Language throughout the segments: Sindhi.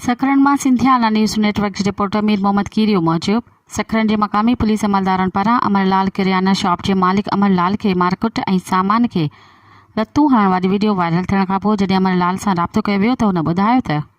سکرن مان سنڌيانا نيوز نيٽ ورڪ جي رپورٽر مير محمد ڪيريو موجب سکرن جي مقامي پوليس عملدارن پاران امر لال ڪريانه شاپ جي مالڪ امر لال کي مارڪٽ ۽ سامان کي لتون هڻڻ واري وڊيو وائرل ٿيڻ کانپوء جڏهن امر لال سان رابطو ڪيو ويو ته هن ٻڌايو ته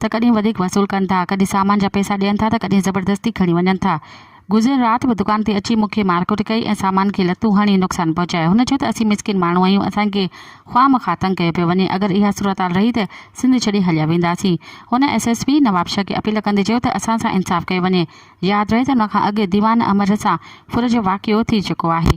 ته ڪڏهن وڌيڪ وصول ڪن ٿا، ڪڏهن سامان جا پئسا ڏين ٿا ته ڪڏهن زبردستي کڻي وڃن ٿا. گذريل رات به دڪان تي اچي مون کي مارڪٽ ڪئي ۽ سامان کي لتون هڻي نقصان پهچايو. هن چيو ته اسين مسڪين ماڻهو آهيون، اسان کي خواه مخواه تنگ ڪيو پيو وڃي، اگر اها صورتحال رهي ته سنڌ ڇڏي هليا وينداسين. هن ايس ايس پي نوابشاهه کي اپيل ڪندي چيو ته اسان سان انصاف ڪيو وڃي. ياد رهي ته ان کان اڳ ديوان امر سان ڦر جو واقعو ٿي چڪو آهي.